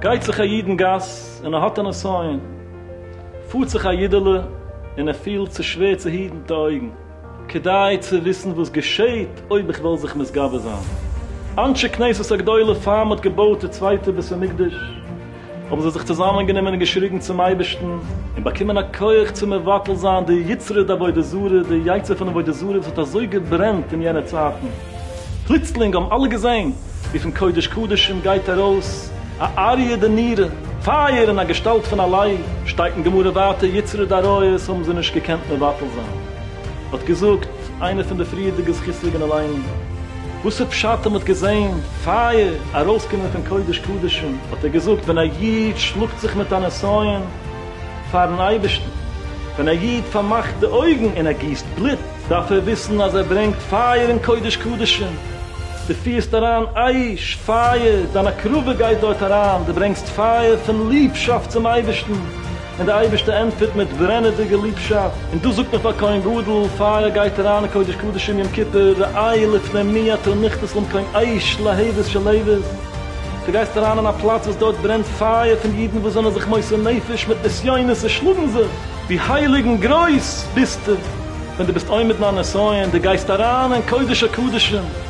גייט זיך א איד אין גאס און ער האט א נסיון, פארט זיך א אידעלע און ער פילט ס'איז שווער צו היטן די אויגן, כדי צו וויסן וואס געשעהט אויב איך וועל זיך מתגבר זיין. אנשי כנסת הגדולה פאר מ'האט געבויט די צווייטע בית המקדש, האבן זיי זיך צוזאמענגענומען און געשריגן צום אייבערשטן, און באקומען א כח צו מבטל זיין די יצרי דעבודה זרה, די יצר פון עבודה זרה וואס האט אזוי געברענט אין יענע צייטן. פלוצלינג האבן אלע געזען ווי פון קודש קדשים גייט ארויס א אריה די נירה, פייער אין א געשטאלט פון א לייב, שטייט אין גמרא ווייטער יצרי דעריות האבן זיי נישט געקענט מבטל זיין. האט געזאגט איינע פון די פריערדיגע זכות'דיגע אליין, וואס איז פשט אז מען האט געזען פייער ארויסקומען פון קודש קדשים, האט ער געזאגט, ווען א איד שלאגט זיך מיט א נסיון פאר'ן אייבערשטן, ווען א איד פארמאכט די אויגן און ער גיסט בלוט, דארף ער וויסן אז ער ברענגט פייער אין קודש קדשים, דו פירסט אריין אש, פייער, דיין הקרבה גייט דארט אריין, דו ברענגסט פייער פון ליבשאפט צום אייבערשטן, און דער אייבערשטער ענטפערט מיט ברענעדיגע ליבשאפט, און דאס זאגט מען פאר כהן גדול, פייער גייט אריין אין קודש קדשים יום כיפור, ראי' לפני מי אתה נכתס למקום אש להבות של עבות, דו גייסט אריין אין א פלאץ וואס דארט ברענט פייער פון אידן וואס זענען זיך מוסר נפש מיט נסיונות און שלאגן זיך, ווי הייליג און גרויס ביסטו ווען דו ביסט עומד מיין נסיון, דו גייסט אריין אין קודש הקדשים.